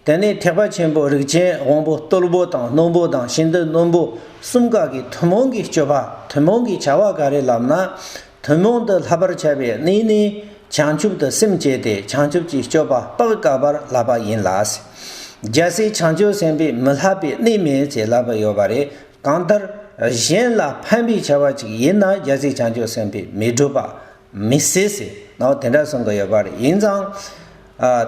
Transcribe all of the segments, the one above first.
དེ་ནས་ཐེག་པ་ཆེན་པོ་རིགས་ཅན་དབང་པོ་རྟོལ་པོ་དང་རྣོན་པོ་དང་ཤིན་ཏུ་རྣོན་པོ་གསུམ་ག་གིས་ཐུན་མོང་གི་སྤྱོད་པ་ཐུན་མོང་གི་བྱ་བ་ག་རེ་ལབ་ན། ཐུན་མོང་དུ་ལྷག་པར་བྱ་བའི་གནས་ནི། བྱང་ཆུབ་ཏུ་སེམས་བསྐྱེད་དེ་བྱང་ཆུབ་ཀྱི་སྤྱོད་པ་དཔག་དཀའ་བར་ལབ་པ་ཡིན་ལ། རྒྱལ་སྲས་བྱང་ཆུབ་སེམས་དཔས་མི་ལྷག་པའི་གནས་མེད་ཅེས་ལབ་པ་ཡོད་པ་རེད། གང་ལྟར། གཞན་ལ་ཕན་པའི་བྱ་བ་ཅིག་ཡིན་ན་རྒྱལ་སྲས་བྱང་ཆུབ་སེམས་དཔས་མི་སྒྲུབ་པ། མི་སྲིད། ནའོ་དེ་འདྲ་གསུངས་ཀྱི་ཡོད་པ་རེད། ཡིན་ཙང།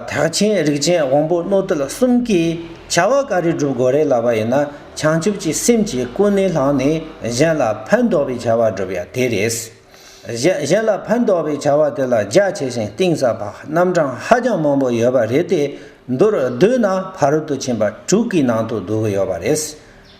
དག་ཆེན་རིགས་ཅན་དབང་པོ་རྣོ་རྟུལ་གསུམ་གྱིས་བྱ་བ་ག་རེ་བསྒྲུབ་དགོས་རེད་ལབ་པ་ཡིན་ན་བྱང་ཆུབ་ཀྱི་སེམས་ཀྱིས་ཀུན་ནས་བསླངས་ནས་གཞན་ལ་ཕན་འདོགས་པའི་བྱ་བ་བསྒྲུབ་ཡ་དེ་རེད། གཞན་ལ་ཕན་འདོགས་པའི་བྱ་བ་དེ་ལ་རྒྱ་ཆེ་ཞིང་གཏིང་ཟབ་པ་རྣམ་གྲངས་ཧ་ཅང་མང་པོ་ཡོད་པ་རེད་དེ། མདོར་བསྡུས་ན་ཕ་རོལ་ཏུ་ཕྱིན་པ་དྲུག་གི་ནང་དུ་བསྡུ་གི་ཡོད་པ་རེད།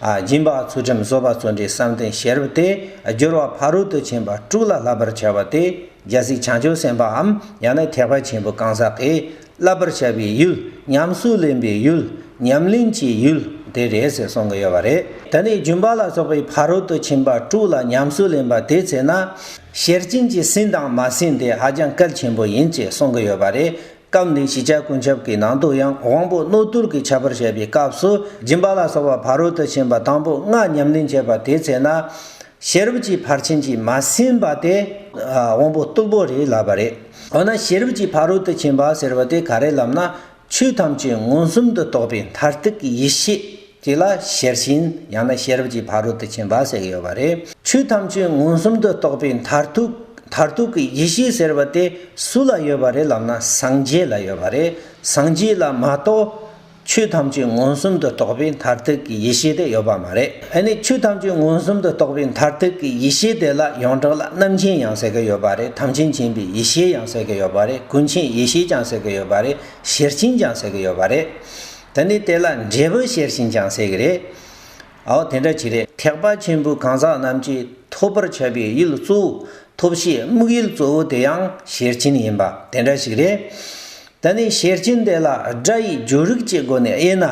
སྦྱིན་པ་ཚུལ་ཁྲིམས་གསོལ་བ་བརྩོན་འགྲུས་བསམ་གཏན་ཞལ་རབ་སྟེ་སྦྱོར་བ་ཕ་རོལ་ཏུ་ཕྱིན་པ་དཀྲུགས་ལ་བསླབ་པར་བྱ་བ་སྟེ་རྒྱལ་སྲིད་བྱང་ཆུབ་སེམས་དཔའམ་ཡང་ན་ཐེག་པ་ཆེན་པོའི་གང་ཟག་གིས་བསླབ་པར་བྱ་བའི་ཡུལ་ཉམས་སུ་ལེན་པའི་ཡུལ་ཉམས་ལེན་གྱི་ཡུལ་དེ་རེད་ཟེར་གསུང་གི་ཡོད་པ་རེད། དེ་ནས་སྦྱིན་པ་ལ་སོགས་པའི་ཕ་རོལ་ཏུ་ཕྱིན་པ་དཀྲུགས་ལ་ཉམས་སུ་ལེན་པ་དེའི་ཚེ་ན། ཤེར་ཕྱིན་གྱི་ཟིན་དང་མ་ཟིན་དེ་ཧ་ཅང་གལ་ཆེན་པོ་ཡིན་ཅེས་གསུང་གི་ཡོད་པ་རེད། སྐབས་འདིའི་གཞིས་ཆགས་ཀུན་ཁྱབ་ཀྱི་ནང་དུ་ཡང་དབང་པོ་རྣོ་རྟུལ་གྱི་ཁྱད་པར་བཤད་པའི་སྐབས་སུ་སྦྱིན་པ་ལ་སོགས་པ་ཕ་རོལ་ཏུ་ཕྱིན་པ་དང་པོ་ལྔ་ཉམས་ལེན་བྱེད་པ་དེའི་ཚེ་ན། ཤེས་རབ་ཀྱི་ཕར་ཕྱིན་གྱིས་མ་ཟིན་པ་དེ། དབང་པོ་རྟུལ་པོ་རེད་ལབ་པ་རེད། འོ་ན་ཤེས་རབ་ཀྱི་ཕ་རོལ་ཏུ་ཕྱིན་པ་ཟེར་བ་དེ་ག་རེ་ལབ་ན། ཆོས་ཐམས་ཅད་མངོན་སུམ་དུ་རྟོགས་པའི་མཐར་ཐུག་གི་ཡེ་ཤེས། དེ་ལ་ཤེར་ཕྱིན་ཡང་ན་ཤེས་རབ་ཀྱི་ཕ་རོལ་ཏུ་ཕྱིན་པ་ཟེར་གྱི་ཡོད་པ་རེད། ཆོས་ཐམས་ཅད་མངོན་སུམ་དུ་རྟོགས་པའི་མཐར་ཐུག་མཐར་ཐུག་གི་ཡེ་ཤེས་ཟེར་བ་དེ་སུ་ལ་ཡོད་པ་རེད་ལབ་ན་སངས་རྒྱས་ལ་ཡོད་པ་རེད། སངས་རྒྱས་ལ་མ་གཏོགས་ཆོས་ཐམས་ཅད་མངོན་སུམ་དུ་རྟོགས་པའི་མཐར་ཐུག་གི་ཡེ་ཤེས་དེ་ཡོད་པ་མ་རེད། ཧེ་ནས་ཆོས་ཐམས་ཅད་མངོན་སུམ་དུ་རྟོགས་པའི་མཐར་ཐུག་གི་ཡེ་ཤེས་དེ་ལ་ཡོངས་གྲགས་ལ་རྣམ་མཁྱེན་ཡང་ཟེར་གྱི་ཡོད་པ་རེད་དམ་ཆོས་མཁྱེན་པའི་ཡེ་ཤེས་ཡང་ཟེར་གྱི་ཡོད་པ་རེད་ཀུན་མཁྱེན་ཡེ་ཤེས་ཀྱང་ཟེར་གྱི་ཡོད་པ་རེད་ཤེར་ཕྱིན་ཀྱང་ཟེར་གྱི་ཡོད་པ་རེད། ད་ནི་དེ་ལ་འབྲས་བུ་ཤེར་ཕྱིན་ཀྱང་ཟེར་གི་རེད། ཨའོ་དེ་འདྲ་གྱི་རེད། ཐེག་པ་ཆེན་པོའི་གང་ཟག་རྣམས་ཀྱིས་ཐོབ་པར་བྱ་བའི་ཡུལ་གཙོ་བོ་ཐོབ་བྱའི་དམིགས་ཡུལ་གཙོ་བོ་དེ་ཡང་ཤེར་ཕྱིན་ཡིན་པ་དེ་འདྲ་ཞིག་རེད། ད་ནི་ཤེར་ཕྱིན་དེ་ལ་སྒྲ་ཡི་འགྱུར་རིགས་ཀྱི་སྒོ་ནས་དབྱེ་ན།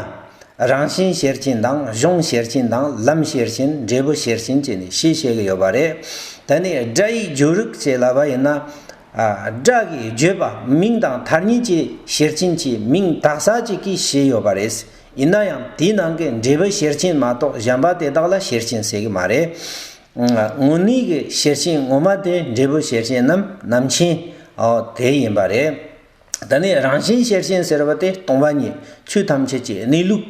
རང་བཞིན་ཤེར་ཕྱིན་དང་གཞུང་ཤེར་ཕྱིན་དང་ལམ་ཤེར་ཕྱིན་འབྲས་བུ་ཤེར་ཕྱིན་བཅས་ནི་ཤེས་བྱེད་ཀྱི་ཡོད་པ་རེད། ད་ནི་སྒྲ་ཡི་འགྱུར་རིགས་བྱེད་ལ་བ་ཡིན་ན། བསྒྲགས་ཀྱིས་བརྗོད་པ་མིང་དང་དར་ཉིན་བཅས་ཞེར་ཆེན་གྱི་མིང་དག་ས་གཅིག་གིས་བཞེས་ཡོད་པ་རེད། ཡིན་ན་ཡང་དེའི་ནང་གི་འབྲས་བུ་ཞེར་ཆེན་མ་གཏོགས་གཞན་པ་དེ་དག་ལ་ཞེར་ཆེན་ཟེར་གྱི་མ་རེད། དངོས་གནས་ཀྱི་ཞེར་ཆེན་ངོ་མ་དེ་འབྲས་བུ་ཞེར་ཆེན་ནམ་ནམ་ཆེན། དེ་ཡིན་པ་རེད། དེ་ནས་རང་བཞིན་ཤེར་ཕྱིན་ཟེར་བ་དེ་སྟོང་པ་ཉིད་ཆོས་ཐམས་ཅད་ཀྱི་གནས་ལུགས་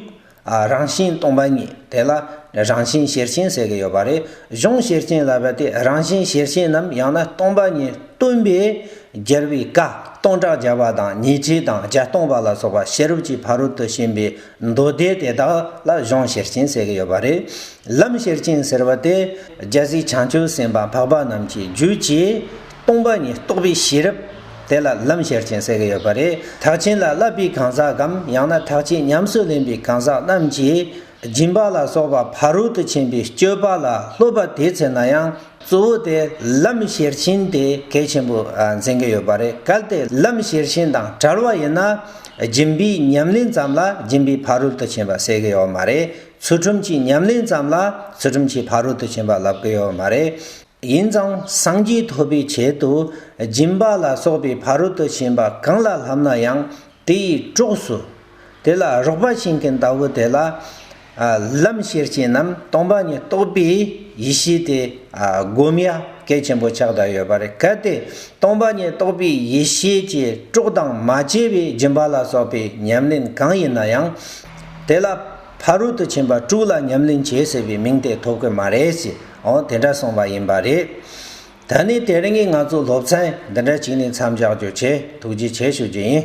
རང་བཞིན་སྟོང་པ་ཉིད་དེ་ལ་རང་བཞིན་ཤེར་ཕྱིན་ཟེར་གྱི་ཡོད་པ་རེད་གཞུང་ཤེར་ཕྱིན་ལབ་པ་དེ་རང་བཞིན་ཤེར་ཕྱིན་ནམ་ཡང་ན་སྟོང་པ་ཉིད་སྟོན་པས་རྒྱལ་བའི་བཀའ་སྟོང་བསྒྲགས་བརྒྱ་པ་དང་ཉི་ཁྲི་དང་བརྒྱ་སྟོང་པ་ལ་སོགས་པ་ཤེས་རབ་ཀྱི་ཕ་རོལ་ཏུ་ཕྱིན་པའི་མདོ་སྡེ་དེ་དག་ལ་གཞུང་ཤེར་ཕྱིན་ཟེར་གྱི་ཡོད་པ་རེད། ལམ་ཤེར་ཕྱིན་ཟེར་བ་དེ་རྒྱལ་སྲིད་བྱང་ཆུབ་སེམས་དཔའ་འཕགས་པ་རྣམས་ཀྱི་རྒྱུད་ཀྱིས་སྟོང་པ་ཉིད་རྟོགས་པའི་ཤེས་རབ་དེ་ལ་ལམ་ཤེར་ཕྱིན་ཟེར་གྱི་ཡོད་པ་རེད། དག་བྱིན་ལ་བསླབ་པའི་གང་ཟག་གམ་ཡང་ན་དག་བྱེད་ཉམས་སུ་ལེན་པའི་གང་ཟག་རྣམས་ཀྱིས་སྦྱིན་པ་ལ་སོགས་པ་ཕ་རོལ་ཏུ་ཕྱིན་པའི་སྤྱོད་པ་ལ་སློབ་པ་དེའི་ཚེ་ན་ཡང། གཙོ་བོ་དེ་ལམ་ཤེར་ཕྱིན་དེ་གལ་ཆེན་པོ་མཚན་གྱི་ཡོད་པ་རེད་གལ་ཏེ་ལམ་ཤེར་ཕྱིན་དང་བྲལ་བ་ཡིན་ན་སྦྱིན་པའི་ཉམས་ལེན་ཙམ་ལ་སྦྱིན་པའི་ཕ་རོལ་ཏུ་ཕྱིན་པ་ཟེར་གྱི་ཡོད་མ་རེད་ཚུལ་ཁྲིམས་ཀྱི་ཉམས་ལེན་ཙམ་ལ་ཚུལ་ཁྲིམས་ཀྱི་ཕ་རོལ་ཏུ་ཕྱིན་པ་ལབ་གི་ཡོད་མ་རེད། ཡིན་ཙང་སངས་རྒྱས་ཐོབ་པའི་ཆེད་དུ་སྦྱིན་པ་ལ་སོགས་པའི་ཕ་རོལ་ཏུ་ཕྱིན་པ་གང་ལ་ལྷམ་ན་ཡང་དེ་ཡི་གྲོགས་སུ། དེ་ལ་རོགས་པ་བྱིན་གྱི་མདའ་བོ་དེ་ལ། ལམ་ཤེར་ཕྱིན་རྣམས་སྟོང་པ་ཉིད་རྟོགས་པའི་ཡེ་ཤེས་དེ་བསྒོམ་ཡ་གལ་ཆེན་པོ་ཆགས་བསྡད་ཡོད་པ་རེད་གལ་ཏེ་སྟོང་པ་ཉིད་རྟོགས་པའི་ཡེ་ཤེས་ཀྱི་སྤྲོ་དང་མ་སྐྱེས་པའི་སྦྱིན་པ་ལ་སོགས་པའི་ཉམས་ལེན་གང་ཡིན་ན་ཡང། དེ་ལ་ཕ་རོལ་ཏུ་ཕྱིན་པ་དྲུག་ལ་ཉམས་ལེན་བྱེད་ཟེར་བའི་མིང་དེ་ཐོབ་གི་མ་རེད་ཅེས་འོང་དེ་འདྲ་གསུངས་པ་ཡིན་པ་རེད། ད་ནི་དེ་རིང་གི་ང་ཚོ་སློབ་ཚན་འདི་འདྲ་གཅིག་ནས་མཚམས་འཇགས་རྒྱུ་ཆེད་ཐུགས་རྗེ་ཆེ་ཞུ་རྒྱུ་ཡིན།